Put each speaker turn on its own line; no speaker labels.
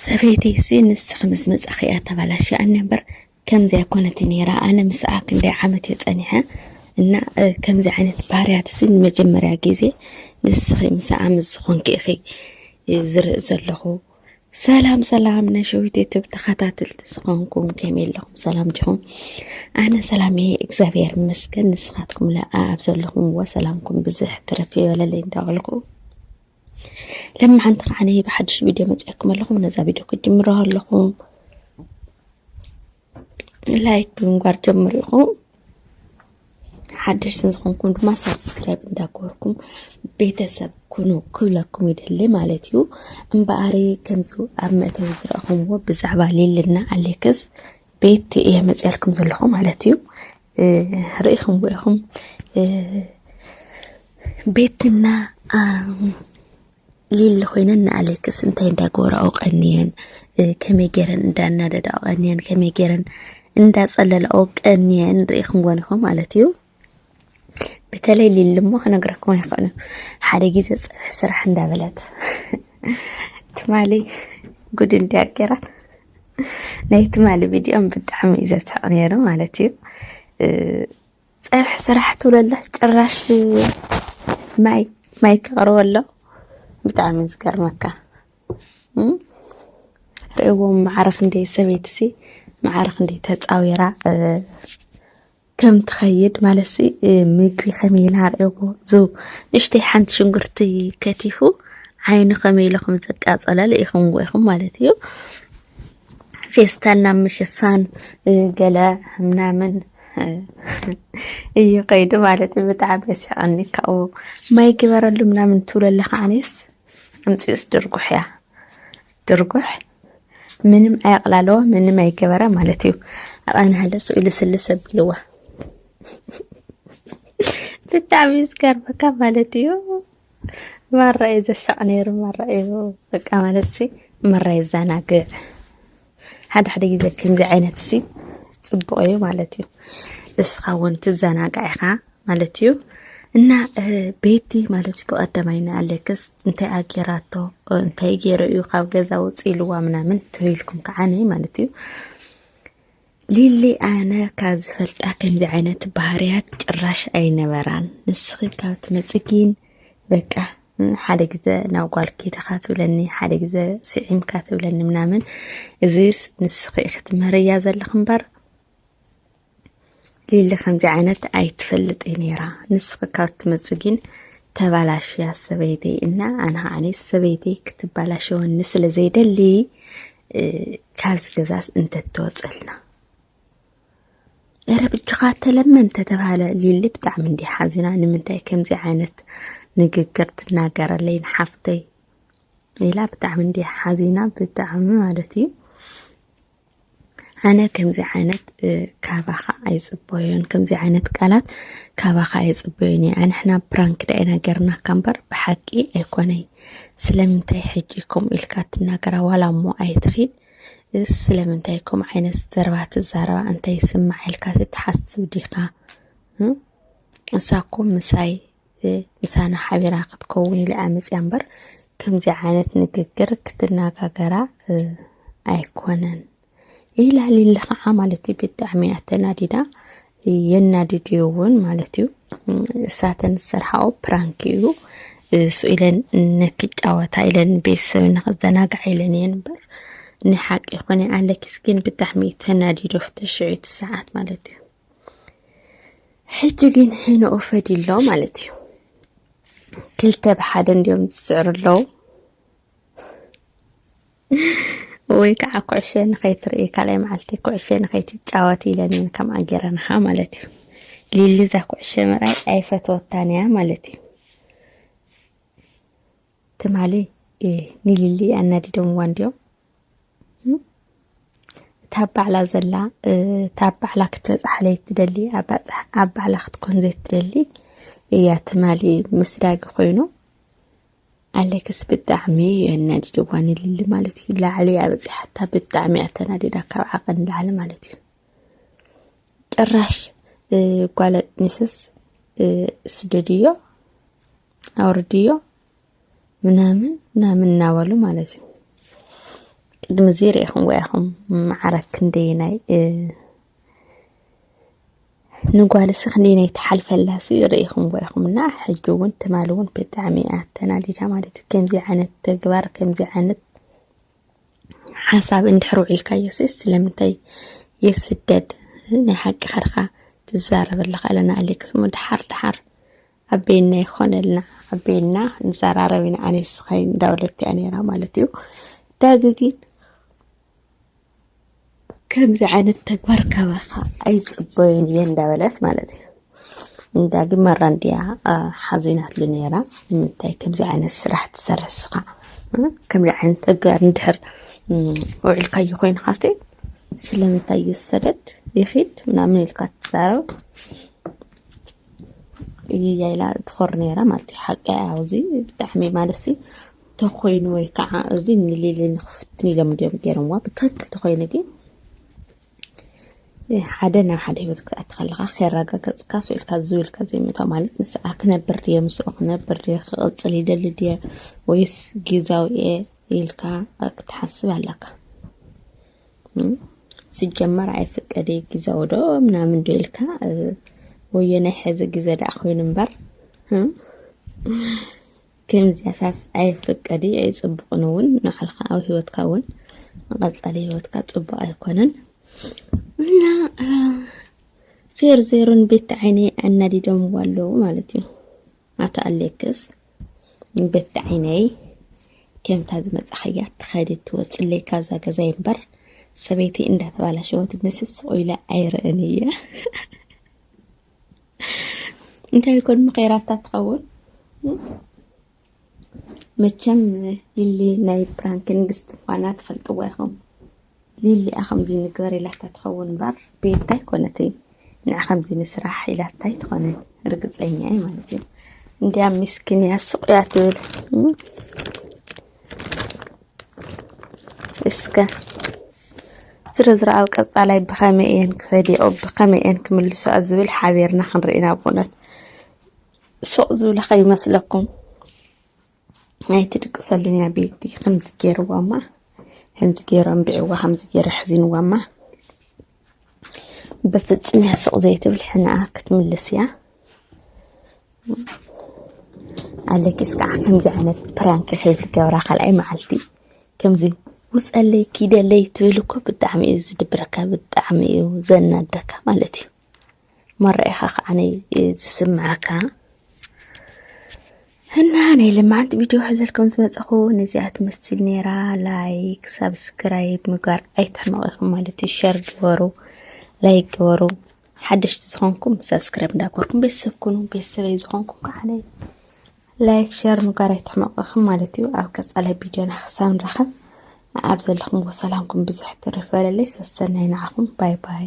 ሰበይቲ ሲ ንስኺ ምስ መጻኺ እያ ተባላሽኣኒ እምበር ከምዚ ኣይኮነት ነይራ ኣነ ምስኣ ክንደይ ዓመት እየ ጸኒሐ እና ከምዚ ዓይነት ባህርያት እዚ ንመጀመርያ ግዜ ንስኺ ምስኣ ምስ ዝኾንኪ ኢኺ ዝርኢ ዘለኹ ሰላም ሰላም ናይ ሸዊት ዩቱብ ተኸታተልቲ ዝኾንኩም ከመይ ኣለኹም ሰላም ዲኹም ኣነ ሰላም እየ እግዚኣብሔር ይመስገን ንስኻትኩም ለኣ ኣብ ዘለኹምዎ ሰላምኩም ብዝሕ ትረፍ ይበለለይ እንዳበልኩ ለማዓንቲ ከዓ ነይ ብሓድሽ ቪድዮ መፅኣኩም ኣለኹ ነዛ ቪድዮ ክጅምሮ ኣለኹ ላይክ ብምንጓር ጀምሩ ኢኹም ሓድሽ ዝኾንኩም ድማ ሳብስክራይብ እንዳገበርኩም ቤተሰብ ኩኑ ክብለኩም ይደሊ ማለት እዩ እምበኣሪ ከምዚ ኣብ መእተዊ ዝረእኹምዎ ብዛዕባ ሌልና ኣሌክስ ቤት እየ መፅያልኩም ዘለኹ ማለት እዩ ርኢኹም ኢኹም ቤትና ሊሊ ኮይነን ንኣሌክስ እንታይ እንዳገበራኦ ቀንየን ከመይ ገይረን እንዳናደዳኦ ቀንየን ከመይ ገይረን እንዳፀለላኦ ቀንየን ርኢኹም ጎን ኢኹም ማለት እዩ በተለይ ሊሊ እሞ ክነግረኩም ይኽእሉ ሓደ ግዜ ፀብሒ ስራሕ እንዳበለት ትማሊ ጉድ እንዲያ ገራት ናይ ትማሊ ቪድዮም ብጣዕሚ እዩ ዘስሕቕ ነይሩ ማለት እዩ ፀብሒ ስራሕ ትብለላ ጭራሽ ማይ ማይ ተቕርበሎ ብጣዕሚ ዝገርመካ ርእዎም ማዕረ ክንደይ ሰበይትሲ ማዕረ ክንደይ ተፃዊራ ከም ትኸይድ ማለትሲ ምግቢ ከመይ ኢላ ኣርእየዎ ዝ ንእሽተይ ሓንቲ ሽንጉርቲ ከቲፉ ዓይኑ ከመይ ኢሉ ከም ዘቃጸለ ልኢኹምዎ ኢኹም ማለት እዩ ፌስታልና ምሽፋን ገለ ምናምን እዩ ከይዱ ማለት እዩ ብጣዕሚ የስሕቐኒ ካብኡ ማይ ግበረሉ ምናምን ትብሎ ኣለካ ኣነስ ኣምፂኡስ ድርጉሕ እያ ድርጉሕ ምንም ኣየቕላለዎ ምንም ኣይገበረ ማለት እዩ ኣቐናሃለ ስእሉ ስልስ ኣብልዎ ብጣዕሚ ዝገርመካ ማለት እዩ ማራ እዩ ዘሳቕ ነይሩ ማራ እዩ በቃ ማለት ሲ ማራ የዘናግዕ ሓደ ሓደ ግዜ ከምዚ ዓይነት ሲ ፅቡቕ እዩ ማለት እዩ እስኻ እውን ትዘናጋዕ ኢኻ ማለት እዩ እና ቤቲ ማለት እዩ ብቀዳማይ ንኣሌክስ እንታይ ኣጌራቶ እንታይ ገይረ እዩ ካብ ገዛ ውፅ ኢልዋ ምናምን ተበልኩም ከዓነ ማለት እዩ ሊሊ ኣነ ካብ ዝፈልጣ ከምዚ ዓይነት ባህርያት ጭራሽ ኣይነበራን ንስኺ ካብ ትመፅጊን በቃ ሓደ ግዘ ናብ ጓል ኪድኻ ትብለኒ ሓደ ግዘ ስዒምካ ትብለኒ ምናምን እዚስ ንስኺ ክትምህርያ ዘለኽ እምበር ሊሊ ከምዚ ዓይነት ኣይትፈልጥ ነይራ ንስኺ ካብ ትመጽእ ግን ተባላሽያ ሰበይተይ እና ኣነ ከዓኒ ሰበይተይ ክትባላሸወኒ ስለ ዘይደሊ ካብዚ ገዛስ እንተትወፅልና እረ ብጅኻ ተለመን ተተባሃለ ሊሊ ብጣዕሚ እንዲ ሓዚና ንምንታይ ከምዚ ዓይነት ንግግር ትናገረለይ ንሓፍተይ ኢላ ብጣዕሚ እንዲ ሓዚና ብጣዕሚ ማለት እዩ ኣነ ከምዚ ዓይነት ካባኻ ኣይፅበዮን ከምዚ ዓይነት ቃላት ካባኻ ኣይፅበዮን እየ ኣንሕና ፕራንክ ዳኢና ገርናካ እምበር ብሓቂ ኣይኮነይ ስለምንታይ ሕጂ ከምኡ ኢልካ ትናገራ ዋላ እሞ ኣይትኺድ ስለምንታይ ከምኡ ዓይነት ዘረባ ትዛረባ እንታይ ይስማዕ ኢልካ ትሓስብ ዲኻ እም? እሳ እኮ ምሳይ ምሳና ሓቢራ ክትከውን ኢለ ኣመፅያ እምበር ከምዚ ዓይነት ንግግር ክትነጋገራ ኣይኮነን ኢላሊ ለኸዓ ማለት እዩ ብጣዕሚ እያ ተናዲዳ የናድድዮ እውን ማለት እዩ እሳተን ዝሰርሓኦ ፕራንክ እዩ እሱ ኢለን ንክጫወታ ኢለን ቤተሰብ ንክዘናጋዕ ኢለን እየን እምበር ንሓቂ ይኮነ ኣለኪስ ግን ብጣዕሚ ተናዲዶ ፍትሽዒቱ ሰዓት ማለት እዩ ሕጂ ግን ሕነኡ ፈዲሎ ማለት እዩ ክልተ ብሓደ እንዲዮም ዝስዕሩ ኣለዉ ወይ ከዓ ኩዕሸ ንኸይትርኢ ካልኣይ መዓልቲ ኩዕሸ ንኸይትጫወት ኢለን እየን ከምኣ ገይረንኻ ማለት እዩ ሊሊ እዛ ኩዕሸ ምርኣይ ኣይፈተወታን እያ ማለት እዩ ትማሊ ንሊሊ ኣናዲዶምዋ እንዲዮም እታ ባዕላ ዘላ እታ ባዕላ ክትበፅሓለይ ትደሊ ኣብ ባዕላ ክትኮን ዘይትደሊ እያ ትማሊ ምስ ዳጊ ኮይኑ ኣለክስ ብጣዕሚ እዩ ኣናዲድዋ ንልሊ ማለት እዩ ላዕሊ ኣበፂሓታ ብጣዕሚ እያ ተናዲዳ ካብ ዓቐን ላዕሊ ማለት እዩ ጭራሽ ጓለጥ ኒስስ ስደድዮ ኣውርድዮ ምናምን ምናምን እናበሉ ማለት እዩ ቅድሚ እዚ ርኢኹም ወያኹም መዓረ ክንደየናይ ንጓልሲ ክንደየናይ ትሓልፈላሲ ርኢኹም ወያኹም እና ሕጂ እውን ትማሊ እውን ብጣዕሚ እያ ተናዲዳ ማለት እዩ ከምዚ ዓይነት ተግባር ከምዚ ዓይነት ሓሳብ እንድሕር ውዒልካዮ ሴስ ስለምንታይ የስደድ ናይ ሓቂ ከርካ ትዛረበለካ ኣለና ኣሌክስ ሞ ድሓር ድሓር ኣቤና ይኾነልና ኣቤና ንዘራረብ ኢና ኣነ ስኸይ እንዳውለት እያ ነይራ ማለት እዩ ዳጊ ግን ከምዚ ዓይነት ተግባር ካባኻ ኣይፅበዮን እየ እንዳበለት ማለት እዩ እንዳ ግን መራ እንዲያ ሓዚናትሉ ነይራ ንምንታይ ከምዚ ዓይነት ስራሕ ትሰርሕ ስኻ ከምዚ ዓይነት ተግባር እንድሕር ውዒልካዮ ኮይንካ ስቲ ስለምንታይ እዩ ዝሰደድ ይኺድ ምናምን ኢልካ ትዛረብ እይይ ኢላ ትኾሪ ነይራ ማለት እዩ ሓቂ እያ እዚ ብጣዕሚ ማለት ሲ ተኮይኑ ወይ ከዓ እዚ ንሊሊ ንክፍትን ኢሎም እንዲዮም ገይሮምዋ ብትክክል ተኮይኑ ግን ሓደ ናብ ሓደ ሂወት ክትኣቲ ከለካ ከረጋገፅካ ስኢልካ ዝው ኢልካ ዘይምእታ ማለት ንስዓ ክነብር ድየ ምስኡ ክነብር ድየ ክቕፅል ይደሊ ድየ ወይስ ግዛዊ እየ ኢልካ ክትሓስብ ኣለካ ሲጀመር ኣይፍቀድ እዩ ግዘው ዶ ምናምን ዶ ኢልካ ወዮ ናይ ሕዚ ግዘ ደኣ ኮይኑ እምበር ከምዚያሳስ ኣይፍቀድ እዩ ኣይፅቡቕን እውን ንዓልካ ኣብ ሂወትካ እውን ንቐፃሊ ሂወትካ ፅቡቕ ኣይኮነን እና ዜሮ ዜሮን ቤት ዓይነይ ኣናዲዶምዎ ኣለዉ ማለት እዩ ኣቶ ኣሌክስ በቲ ዓይነይ ከምታ ዝመጻኸያ ትኸዲ ትወፅለይ ካብዛ ገዛይ እምበር ሰበይቲ እንዳተባላሸወት ንስስ ቆይለ ኣይርእን እየ እንታይ ይኮን ምኸይራታ ትኸውን መቸም ሊሊ ናይ ፕራንክ ንግስቲ ምኳና ትፈልጥዋ ኢኹም ሊሊ እያ ከምዙይ ንግበር ኢላታ ትኸውን እምበር ቤታ ኣይኮነትን ንዓ ከምዙይ ንስራሕ ኢላታ ኣይትኾንን ርግፀኛ እየ ማለት እዩ እንዲያ ምስኪን እያ ስቕ እያ ትብል እስከ ዝርዝራ ኣብ ቀፃላይ ብኸመይ እየን ክፈዲኦ ብኸመይ እየን ክምልሶኣ ዝብል ሓቢርና ክንርኢ ናብ ኩነት ሱቕ ዝብለ ከይመስለኩም ናይ ትድቅሰሉኛ ቤቲ ከምዚ ገይርዋማ ከምዚ ገይሩ ኣንቢዕዋ ከምዚ ገይሩ ኣሕዚንዋማ ብፍፅም እያ ስቕ ዘይትብል ሕንኣ ክትምልስ እያ ኣለኪስ ከዓ ከምዚ ዓይነት ፕራንክ ከይትገብራ ካልኣይ መዓልቲ ከምዚ ውፀለይ ኪደለይ ትብል እኮ ብጣዕሚ እዩ ዝድብረካ ብጣዕሚ እዩ ዘናደካ ማለት እዩ መረኣይኻ ከዓ ዝስምዓካ እና ናይ ልምዓት ቪድዮ ሕዘልኩም ዝመፀኹ ነዚኣ ትመስል ነይራ። ላይክ ሳብስክራይብ ምግባር ኣይትሕመቑ ኢኹም ማለት እዩ። ሸር ግበሩ፣ ላይክ ግበሩ። ሓደሽቲ ዝኾንኩም ሳብስክራይብ እንዳገበርኩም ቤተሰብ ኩኑ። ቤተሰበይ ዝኾንኩም ከዓ ላይክ ሸር ምግባር ኣይትሕመቑ ኢኹም ማለት እዩ። ኣብ ቀፃላይ ቪድዮና ክሳብ ንራኸብ ኣብ ዘለኹም ሰላምኩም ብዝሕ ትርፍ በለለይ። ሰሰናይ ንዓኹም ባይ ባይ